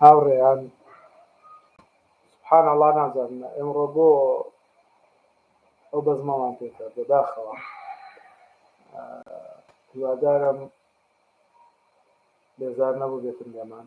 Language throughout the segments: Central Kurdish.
هاوڕێیان سبحان الله نازانم ئێمڕۆ بۆ ئەو بەزمەوان پێکرد بەداخەوە هیوادارم بێزار نەبوو بێتن لێمان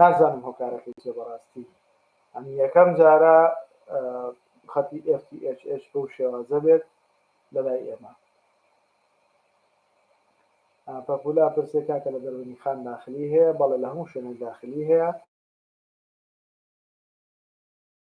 نازانم هۆکارەکەی چیە بەڕاستی ئەم یەکەم جارە خەتی FTHH بەو شێوازە بێت لەلای ئێمە پەپولا پرسێ کاکە لە دەرونی خان داخلی هەیە بەڵێ لە هەموو شوێنێک داخلی هەیە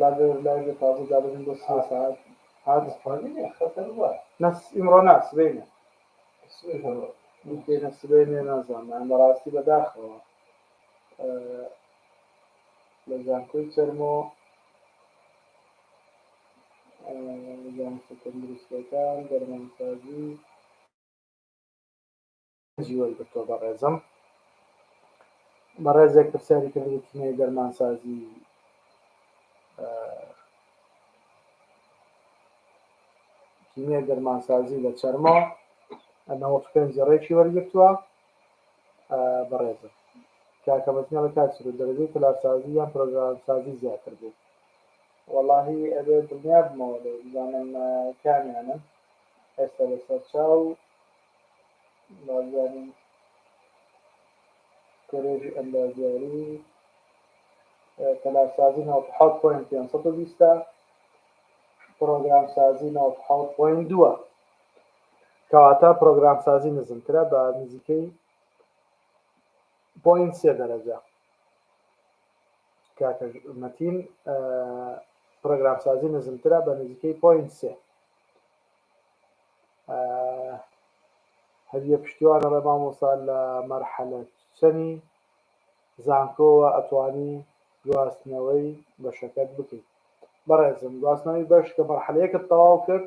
لاجوور لایڤ تازە دابنێن بۆ سێ ساعت هات نەس ئیمڕۆ نا سبەینە دێنە سبەینێ نازانم بەڕاستی بەداخەوە لە زانکۆی چەرمۆ زانستە تەندروستەکان دەرمانسازی جی وەرگرتوە بەڕێزم. بەڕێزێک پرسیاری کردبوو کیمیای دەرمانسازی کیمیای دەرمانسازی لە چەرمۆ نەوەت و پێنج ڕێکی وەرگرتووە بەڕێزم کاکە مەزنەڵە کاچر و دەرەجەی تەلارسازی یان پرۆگرامسازی زیاتر بوو وەڵاهی ئەبێ دڵنیا بمەوە لێ بزانم کامیانن ئێستا لەسەر چاو نازدارین کۆلێژی ئەندازیاری تەلارسازی 97 پوین 520 پرۆگرام سازی 97 پوین 2 کەواتە پرۆگرام سازی نزمترە بە نزیکەی پوین سێ دەرەجە کاکە مەتین پرۆگرام سازی نزمترە بە نزیکەی پوین سێ هەدیە پشتیوان ئەڵێ مامۆستا لە مەرحەلە چەنی زانکۆوە ئەتوانی گواستنەوەی بەشەکەت بکەی بەڕێزم گواستنەوەی بەش کە مەرحەلە یەکت تەواو کرد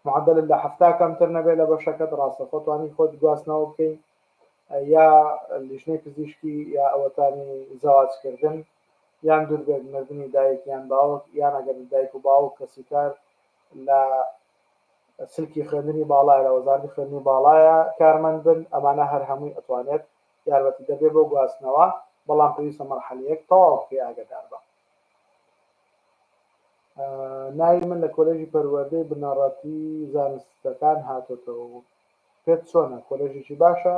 معدل لە حفتا کەمتر نەبێت لە بەشەکەت ڕاستە خۆتوانی خۆت گواستنەوە بکەین یا لیژنەی پزیشکی یا ئەوەتانی زەواجکردن یان دووربێت مردنی دایک یان باوک یان ئەگەر دایک و باوک کەسی کار لە سلکی خوێندنی باڵایە لە وەزارەتی خوێندنی باڵایە کارمەند بن ئەمانە هەر هەمووی ئەتوانێت یارمەتیدەر بێت بۆ گواستنەوە بەڵام پێویستە مەرحەلەیەک تەواو بکەی ئاگەدار بە ناوی من لە کۆلێژی پەروەردەی بنەڕەتی زانستەکان هاتۆتەوە و پێت چۆنە کۆلێژێکی باشە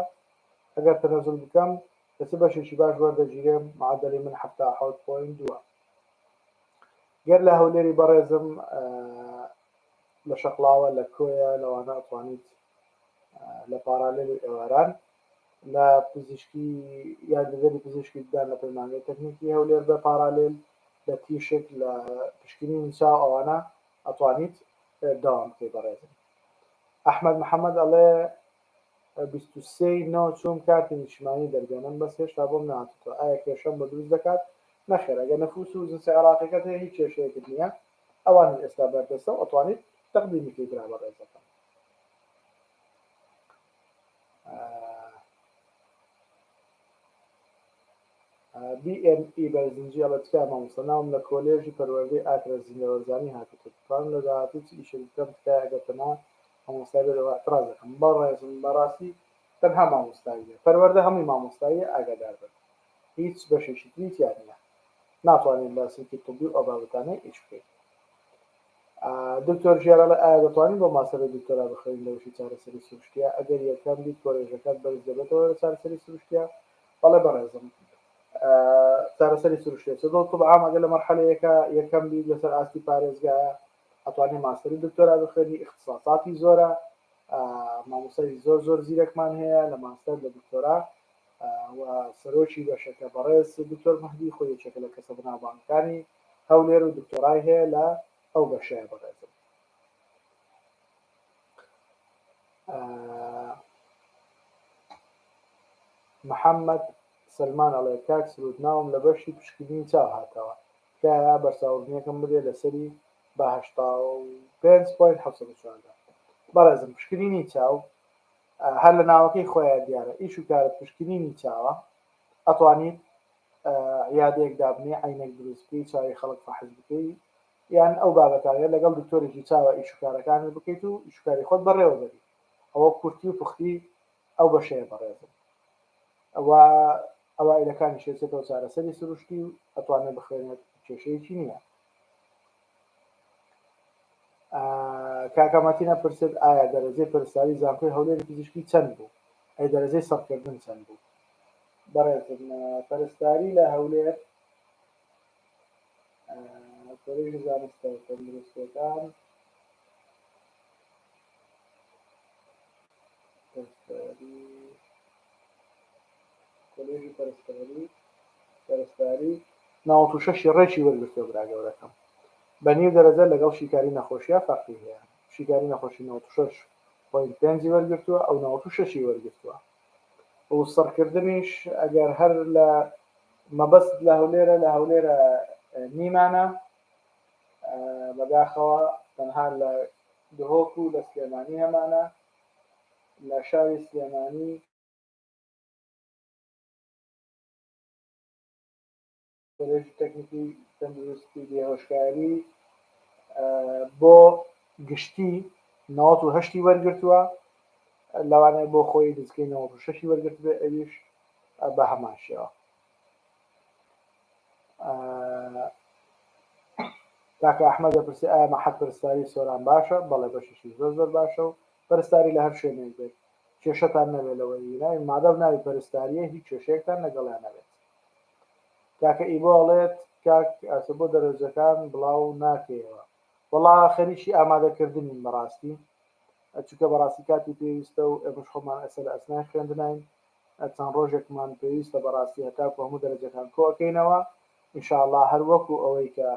ئەگەر تەنەزول بکەم لە چ بەشێکی باش وەردەگیرێم معدلی من حەفتا حەوت پۆین دووە گەر لە هەولێری بەڕێزم لە شەقڵاوە لە کۆیە لەوانە ئەتوانیت لە پارالیلی ئێواران لە پزیشکی یاریدەدەری پزیشکی بدان لە پەیمانگەی تەکنیکی هەولێر بە پارالیل لە تیشک لە پشکنی نوسا ئەوانە ئەتوانیت داوام بکەی بەڕێزم ئەحمد محەممەد ئەڵێ بیست و سێ ی نۆ چووم کارتی نیشتمانی دەرگەنم بەس هێشتا بۆم نەهاتووتۆ ئایا کێشەم بۆ دروست دەکات نەخێر ئەگەر نفوس و جنسی عێراقیەکەت هەیە هیچ کێشەیەکت نییە ئەوانیش ئێستا بەردەستە و ئەتوانیت تەقدیمی کەی برا بەڕێزەکەم. BME بەرزنجی ئەڵە تکای مامۆستا ناوم لە کۆلێژی پەروەردەی ئاکرە زیندەوەرزانی هاتووتە دەتوانم لە داهاتوو چ ئیشێک بکەم تکایە ئەگەر تەنها مامۆستا لێرەوە اعتراز دەکەم بەڕێزم بەڕاستی تەنها مامۆستاییە پەروەردە هەمووی مامۆستاییە ئاگاداربن هیچ بەشێکی تری تیا نیە ناتوانێت لە سلکی طبی و ئەو بابەتانە ئیش بکەیت دکتۆر ژیار ئەڵێ ئایا دەتوانین بۆ ماستەر و دکتۆرا بخوێنین لە بەشی چارەسەری سروشتیە ئەگەر یەکەم بیت کۆلێژەکەت بەرز دەبێتەوە لە چارەسەری سروشتیە بەڵێ بەڕێزم چارەسەری سروشتێ چ دڵ طب عام ئەگەر لە مەرحەلە یەکە یەکەم بیت لەسەر ئاستی پارێزگایە ئەتوانی ماستەر و دکتۆرا بخوێنی ئیختساساتی زۆرە مامۆسای زۆر زۆر زیرەکمان هەیە لە ماستەر لە دکتۆرا و سەرۆکی بەشەکە بەڕێز دکتۆر مەهدی خۆی یەکێکە لە کەسە بەناوبانگەکانی هەولێر و دکتۆرای هەیە لە ئەو بەشەیە بەڕێزم محەممەد سلمان ئەڵێ کاک سرود ناوم لە بەشی پشکنینی چاو هاتەوە تکایە بەرچاوڕدنیەکم بدێ لەسەری بە هەشتا و پێنج پۆینت حەوت سەد و چواردە بەڕێزم پشکنینی چاو هەر لە ناوەکەی خۆیان دیارە ئیش و کارت پشکنینی چاوە ئەتوانیت عیادەیەک دابنێ عینەک دروست بکەی چاوی خەڵک فەحس بکەی یان ئەو بابەتانە لەگەڵ دکتۆرێکی چاوە ئیش و کارەکانت بکەیت و ئیش و کاری خۆت بەڕێوەبەری ئەوە کورتی و پوختی ئەو بەشەیە بەڕێزم ئەوا ئەوائیلەکانیش ئەچێتەوە چارەسەری سروشتی و ئەتوانێت بخوێنێت کێشەیەکی نییە کاکاماتینە پرسێت ئایا دەرەجەی پرساری زانکۆی هەولێری پزیشکی چەند بوو ئەی دەرەجەی سەرکردن چەند بوو بەڕێزم پەرستاری لە هەولێر کۆلێژی زانستە تەندروستەکان نەوەد و شەش ی ڕێکی وەرگرتووە برا گەورەکەم بە نیو دەرەجە لەگەڵ شیکاری نەخۆشیە فەرقی هەیە شیکاری نەخۆشی نەوەد و شەش پۆینت پێنج ی وەرگرتووە ئەو نەوەد و شەش ی وەرگرتووە و سڕکردنیش ئەگەر هەر لە مەبەستت لە هەولێرە لە هەولێرە نیمانە. بەداخەوە تەنها لە دهۆک و لە سلێمانی هەمانە لە شاری سلێمانی. کۆلێژی تەکنیکی تەندروستی بێهۆشکاری بۆ گشتی نەوەد و هەشتی وەرگرتووە لەوانەیە بۆ خۆی نزیکەی نەوەد و شەشی وەرگرتبێ ئەویش بە هەمان شێوە کاکە ئەحمەد دەپرسی ئایا مەحەد پەرستاری سۆران باشە؟ بەڵێ بەشیشی زۆر زۆر باشە و پەرستاری لە هەر شوێنێک بێت کێشەتان نەبێت لەوەی ویناوی مادەم ناوی پەرستاریە هیچ کێشەیەکتان لەگەڵیان نەبێت کاکە ئیبۆ ئەڵێت کاک ئاسە بۆ دەرەجەکان بڵاو ناکەیەوە وەڵا خەریکی ئامادەکردنین بەڕاستی چونکە بەڕاستی کاتی پێویستە و ئێمەش خۆمان ئەسەر ئەسنای خوێندناین چەند ڕۆژێکمان پێویستە بەڕاستی هەتاکو هەموو دەرەجەکان کۆکەینەوە ان شاء اللە هەر وەکو ئەوەی کە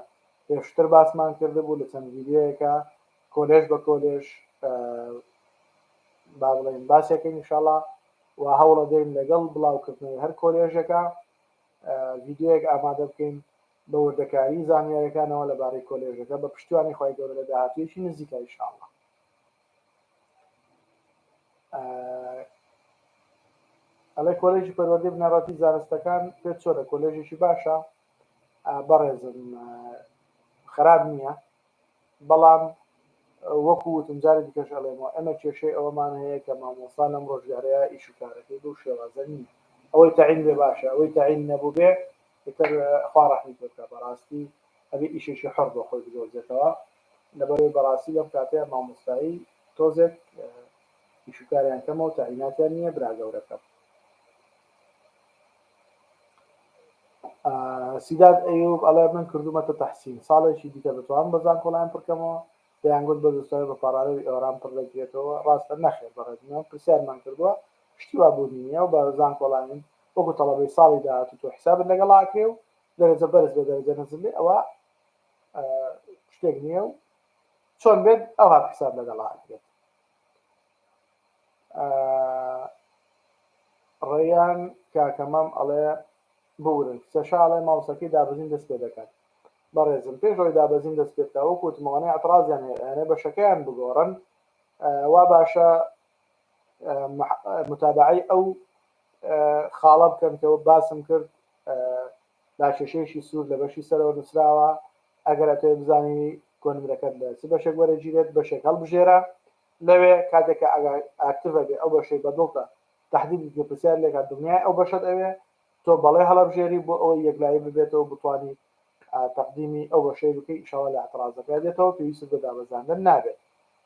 پێشتر باسمان کردبوو لە چەند ڤیدیۆیەکا کۆلێژ بە کۆلێژ با بڵێین باسێکەین ان شاء اللە و هەوڵەدەین لەگەڵ بڵاوکردنەوەی هەر کۆلێژێکا ڤیدیۆیەک ئامادە بکەین بە وردەکاری زانیارەکانەوە لەبارەی کۆلێژەکە بە پشتیوانی خوای گەورە لە داهاتوویەکی نزیکا ان شاء اللە. ئەڵێ کۆلێژی پەروەردەی بنەڕەتی زانستەکان پێ چۆنە کۆلێژێکی باشە بەڕێزم خراپ نییە بەڵام وەکو وتم جارە دیکەش ئەڵێمەوە ئەمە کێشەی ئەوەمان هەیە کە مامۆسا لەم ڕۆژگارەیە ئیش و کارەکەی بەو شێوازە نییە ئەوەی تەعین بێ باشە ئەوەی تەعین نەبوو بێ تر خوا ڕەحمی پێ بکا بەڕاستی ئەبێ ئیشێکی حەڕ بۆ خۆی بدۆزێتەوە لەبەرئەوەی بەڕاستی لەم کاتەیا مامۆستایی تۆزێک ئیشوکاریان کەمە و تەعیناتیان نیە برا گەورەکەم سیداد ئەیوب ئەڵێ من کردومەتە تەحسین ساڵێکی دیکە دەتوانم بە زانکۆڵاین پڕکەمەوە دەیانگوت بە زستەوەی بە پاڕاڵێوی ئێواران پڕ دەکرێتەوە ڕاستە نەخێر بەڕێز من پرسیارمان کردووە شتی وا بوونی نیە و بە زانکۆڵاین وەکو تەڵەبەی ساڵی داهاتوو تۆ حسابت لەگەڵا ئەکرێ و دەرەجە بەرز بێ دەرەجە نەزل بێ ئەوە شتێک نییە و چۆن بێت ئەوها حساب لەگەڵ بێت ڕێیان کاکەمام ئەڵێ بورن سەشاڵێ ماوسەکەی دابزین دەست پێ دەکات بەڕێزم پێش ڕۆی دابزین دەست پێکە وەکو وتمەوانەی ئەترازیان هەیەێ بەشەکەیان بگۆڕن وا باشە متابعی ئەو خاڵە بکەن کە باسم کرد داکێشەیەکی سوور لە بەشی سەرەوە نووسراوە، ئەگەر ئەتەوێت بزانی کۆنمرەکەت لە چ بەشێک وەرەگیرێت، بەشێک هەڵبژێرە لەوێ، کاتێک کە ئاکتڤە بێ ئەو بەشەی بەدڵتە تەحدیدت کرد پرسیار لێکات دڵنیای ئەو بەشەت ئەوێ، تۆ بەڵێ هەڵەبژێری بۆ ئەوەی یەکلایی ببێتەوە بتوانیت تەقدیمی ئەو بەشەی بکەی ئیشاڵا لە ئیعترازەکە دێتەوە پێویستت بە دابەزاندن نابێت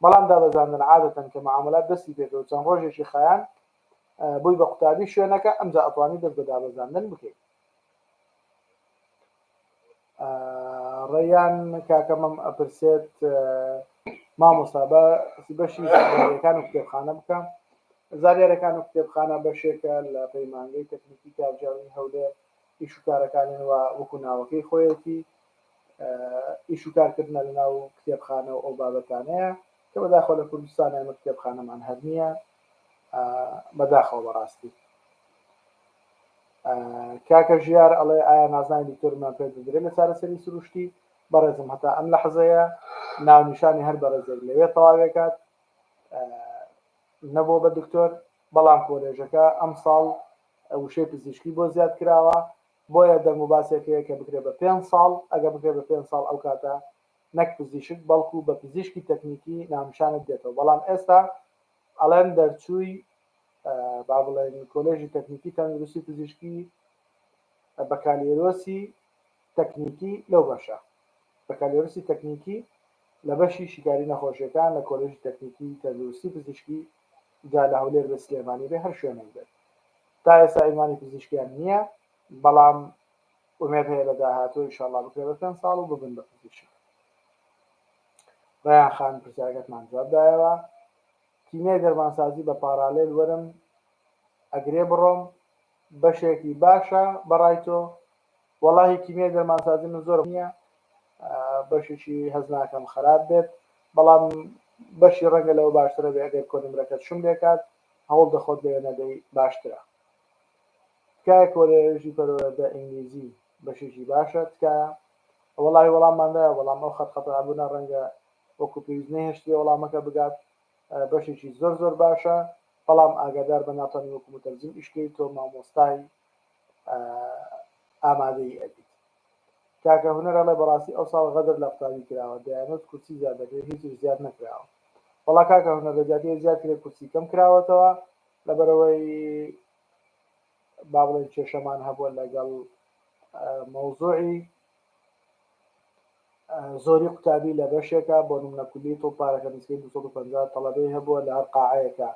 بەڵام دابەزاندن عادەتەن کە معامەلات دەستی پێکرد و چەند ڕۆژێکی خایاند بووی بە قوتابی شوێنەکە ئەمجا ئەتوانی دەست بە دابەزاندن بکەیت. ڕێیان کاکە مەم ئەپرسێت مامۆستا بە بەشی زانیارەکان و کتێبخانە بکەم زانیارەکان و کتێبخانە بەشێکە لە پەیمانگەی تەکنیکی کارجاوی هەولێر ئیش و کارەکانیان و وەکو ناوەکەی خۆیەتی ئیش و کارکردە لە ناو کتێبخانە و ئەو بابەتانەیە کە بەداخۆ لە کوردستان ئەمە کتێبخانەمان هەر نییە بەداخەوە بەڕاستی کاکە ژیار ئەڵێ ئایا نازناوی دکتۆرمان پێ دەدرێ لە چارەسەری سروشتی؟ بەڕێزم هەتا ئەم لەحزەیە ناونیشانی هەر بەڕێزێک لەوێ تەواوێکات نەبۆ بە دکتۆر بەڵام کۆلێژەکە ئەم ساڵ وشەی پزیشکی بۆ زیاد کراوە بۆیە دەنگ و باسێک هەیە کە بکرێ بە پێنج ساڵ ئەگە بکرێ بە پێنج ساڵ ئەو کاتە نەک پزیشک بەڵکو بە پزیشکی تەکنیکی ناونیشانت دێتەوە بەڵام ئێستا ئەڵێن دەرچووی با بڵێین کۆلێژی تەکنیکی تەندروستی پزیشکی بەکالێرۆسی تەکنیکی لەو بەشە بەکالێرۆسی تەکنیکی لە بەشی شیکاری نەخۆشیەکان لە کۆلێژی تەکنیکی تەندروستی پزیشکی جا لە هەولێر بێ سلێمانی بێ هەر شوێنێک بێت تا ئێستا ئینوانی پزیشکیان نییە بەڵام ئومێد هەیە لە داهاتوو ئیشاڵا بکرێت بە پێنج ساڵ و ببن بە پزیشک ڕیان خان پرسیارەکەتمان جواب دایەوە تیمەی دەرمانسازی بە پارالێل وەرم ئەگرێ بڕۆم بەشێکی باشە بەڕای تۆ؟ وەڵاهی کیمیای دەرمانسازی من زۆرم نیە بەشیشی هەست ناکەم خەراپ بێت بەڵام بەشی ڕەنگە لەوە باشترە بێ ئەگەر کۆنمرەکەت شوم لێکات هەوڵ دە خۆت لەوێ نەدەی باشترە تکایە کۆلێژی پەرۆەردە ئینگلیزی بەشیشی باشە تکایە؟ وەڵاهی وەڵاممان دایە بەڵام ئەو خەت خەتابوونە ڕەنگە وەکو پێویست نەهێشتیە وەڵامەکە بگات بەشێکی زۆر زۆر باشە بەڵام ئاگادار بە ناتانی وەکو متەرجم ئیشکەی تۆ مامۆستای ئامادەی ئەبیت کاکە هونەر ئەڵێ بەڕاستی ئەو ساڵ غەدر لە قوتابی کراوە دەیانوت کورسی زیاد دەکرێت هیچیش زیاد نەکراوە وەڵا کاکە هونەر لە جیاتی زیاد کرێ کورسی کەم کراوەتەوە لەبەرەوەی با بڵێن کێشەمان هەبووە لەگەڵ مەوزوعی زۆری قوتابی لە بەشێکە بۆ نمونە کولیەی طب پارەکە نزیکەی دوو سەد و پەنجا تەڵەبەی هەبووە لە هەر قاعەیەکە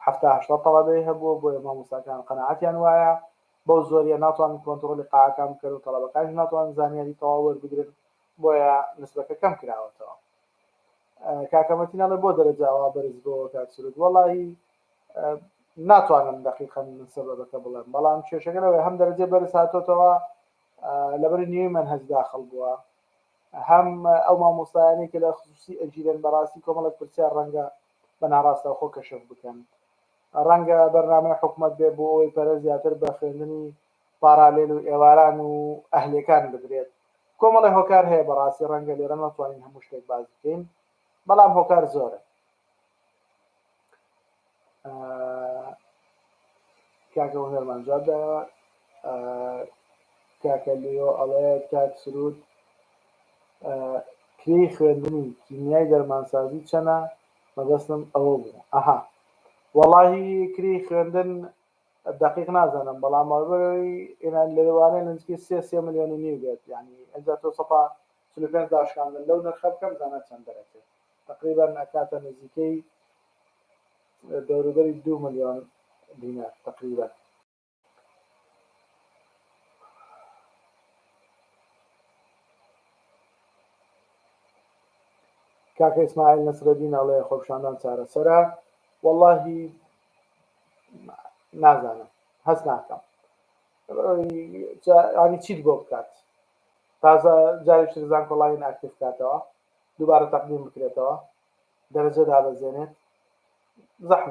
حەفتا هەشتا تەڵەبەی هەبووە بۆیە مامۆستاکان قەناعەتیان وایە بەو زۆریە ناتوانن کۆنتڕۆڵی قاعەکان بکەن و تەڵەبەکانیش ناتوانن زانیاری تەواو وەربگرن بۆیە نسبەکە کەم کراوەتەوە کاکە مەتین ئەڵێ بۆ دەرەجە ئەوا بەرز بۆوە کاک سرود وەڵاهی ناتوانم دەقیقەن سەبەبەکە بڵێم بەڵام کێشەکە لەوەی هەم دەرەجەی بەرز هاتۆتەوە لەبەر نیوەی مەنهەج داخڵ بووە هەم ئەو مامۆستایانەی کە لە خصوصی ئەگیرێن بەڕاستی کۆمەڵێک پرسیار ڕەنگە بە ناڕاستەوخۆ کەشف بکەن ڕەنگە بەرنامەی حکومەت بێ بۆ ئەوەی پەرە زیاتر بە خوێندنی پارالێل و ئێواران و ئەهلیەکان بدرێت کۆمەڵێ هۆکار هەیە بەڕاستی ڕەنگە لێرە نەتوانین هەموو شتێک باس بکەین بەڵام هۆکار زۆرە کاکە هونەرمان جواب دایەوە کاکە لیۆ ئەڵێ کاک سرود کری خوێندنی کیمیای دەرمانسازی چەنە مەبەستم ئەوە بوو ئەها وەڵاهی کری خوێندن دقیق نازانم بەڵام ئەوەی ئێنان لەوانەیە نزیکەی سێ سێ ملیۆن و نیو بێت یعنی ئەجا تۆ سەتا چل و پێنج داشکاندن لەو نرخە بکە بزانە چەند دەرەچێ تەقریبەن ئەکاتە نزیکەی دەوروبەری دوو ملیۆن دینار تەقریبەن. کاکە ئیسماعیل نەسرەدین ئەڵێ خۆپیشاندان چارەسەرە وەڵاهی نازانم هەست ناکەم ینی چیت بۆ بکات تازە جارێکی تر زانکۆڵاین ئاکتیڤ بکاتەوە دووبارە تەقدیم بکرێتەوە دەرەجە دابەزێنێت زەحمەتە.